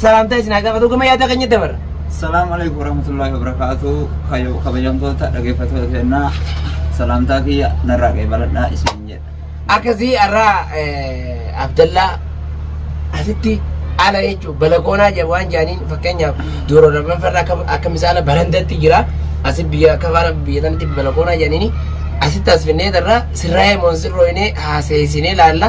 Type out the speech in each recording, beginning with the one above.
salaamtaa isin haa gaafatu gama yaada keenya dabarra. Salaamu alaikum warahmatullahi wabarakatuh. Kayo kabajamtoota dhaggeeffattoota keenyaa salaamtaa kiyya narraa qeebaladhaa isin jedha. Akkasii har'aa eh, Abdallaa asitti ala jechuun balakoonaa jedhu waan jedhaniin fakkeenyaaf duuro lamaan farra akka akka misaala barandatti jira asi biyya akka faana biyya tanatti balakoonaa jedhaniin asitti as finnee irraa sirraa'ee moonsirrooyinee haaseessinee laalla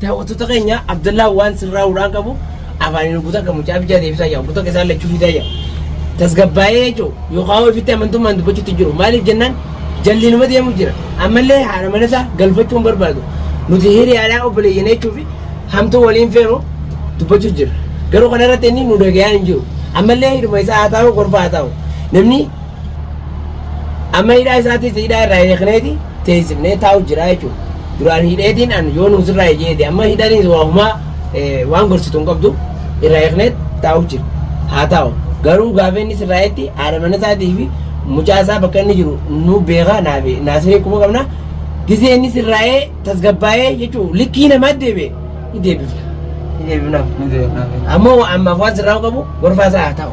Daawwattoota keenya Abdallaa waan sirraa hudhaan qabu afaaniin hubbuta kan mucaa bichaa deebisaa yaa hubbuta keessaa lachuu fidaa yaa tasgabbaa'ee jechuun yookaan ofitti amantummaan dubbachuutti jiru maaliif jennaan jalliinuma deemu jira ammallee haadha mana isaa galfachuu hin barbaadu nuti hiriyaadhaa obboleeyyan jechuu fi hamtuu waliin feenu dubbachuu jira garuu kana irratti inni nu dhagayaan hin jiru ammallee hidhuma isaa haa taa'u gorfaa haa taa'u namni Amma hidhaa isaatis hidhaa irraa hiikneeti teessifnee taa'u jira jechuudha. Duraan hidheetiin an yoo nuus irraa hijeeti amma hidhaniis waa humaa waan gorsitu hin qabdu irraa hiiknee taa'u jira. Haa taa'u garuu gaafa innis irraa hiitti haadha mana isaatii fi mucaa isaa bakka inni jiru nu beekaa naafi naasifnee kuma qabna. Gizee innis irraa hee tasgabbaa'ee jechuun likkii namaa deebi'e ni deebifna. Ni deebifnaaf. Ni deebifnaaf. Ammoo ammaaf waan sirraa qabu gorfaa isaa haa taa'u.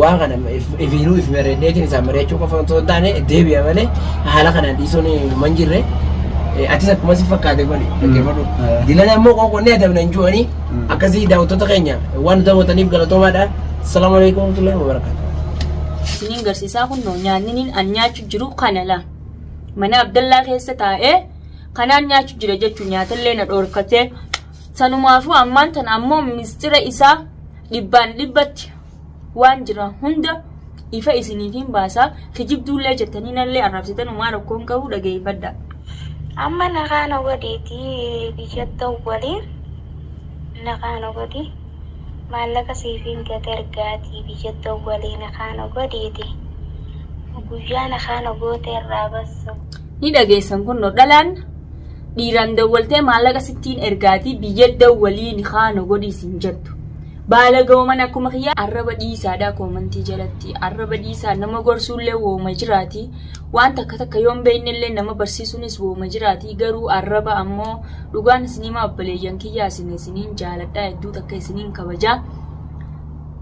waan kana ifiinuu if mari'adheetiin isaan mari'achuu qofa osoo hin taane deebi'a malee haala kanaan dhiisuun numa hin jirre. Atis akkuma si fakkaate godhi dhaggeeffadhu. Dilan ammoo qoqqoonnee adabna hin jiruanii akkasii daawwattoota keenya waan nu daawwataniif galatoomaadha. Salaamu alaikum warahmatullahi wabarakatuh. isiniin garsiisaa kunnoo nyaanniniin an nyaachu jiru kana la mana abdallaa keessa taa'ee kanaan nyaachu jira jechuun nyaatallee na dhoorkatee Sanumaafuu ammaan tana ammoo misxira isaa dhibbaan dhibbatti waan jira hunda ifa isiniifiin baasaa kijibduullee jettanii nallee arrabsitan umaa rakkoon qabu dhageeffadha. Amma nagaa na godhiiti biyya dawwali nagaa na godhi maallaqa siifiin gad ergaati biyya dawwali nagaa na godhiiti guyyaa nagaa na goote irraa bassu. Ni dhageessan kunno dhalaan dhiiraan dawwaltee maallaqa sittiin ergaatii biyya dawwalii nikaa na godhii siin jettu. Baalagawman akkuma kiyyaa arraba dhiisaadhaa koomantii jalatti arraba dhiisaa nama gorsuullee wooma jiraati waan takka takka yoon beeknellee nama barsiisuunis wooma jiraati garuu arraba ammoo dhugaan isinimaa obbaleeyyan kiyyaa isin isiniin jaaladhaa hedduu takka isiniin kabajaa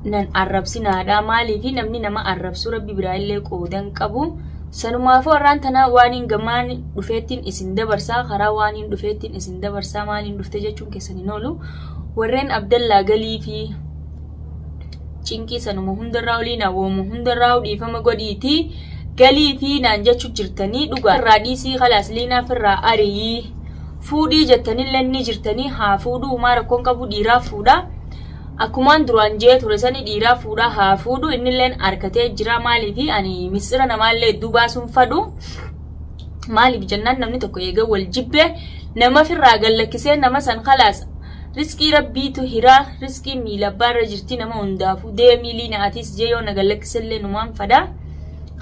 nan arrabsinaadhaa maaliifi namni nama arrabsuu rabbi biraa illee qoodan qabu. Sanumaafuu arraan tana waaniin gamaan dhufeettiin isin dabarsa, karaa waaniin dhufeettiin isin dabarsa, maaliin dhufte jechuun keessan hin oolu. Warreen Abdallaa galii fi cinqii sanuma hundarraa olii na woomu hundarraa dhiifama godhiiti galii fi naan jechuu jirtanii dhugaa irraa dhiisii kalaas liinaa firraa ariyii fuudhii jettanillee ni jirtanii haa fuudhuu umaa rakkoon qabu dhiiraa fuudha. Akkumaan duraan je'ee ture sani dhiiraa fuudhaa haa fuudhu innilleen arkatee jiraa maaliifi ani misxira namaallee hedduu baasuun fadhu maaliif jennaan namni tokko eega wal jibbee nama firraa gallakkisee nama san khalaas risqii rabbiitu hiraa risqiin miila abbaarra jirti nama hundaafuu deemii liina atiis jee yoo na gallakkisellee numaan fadaa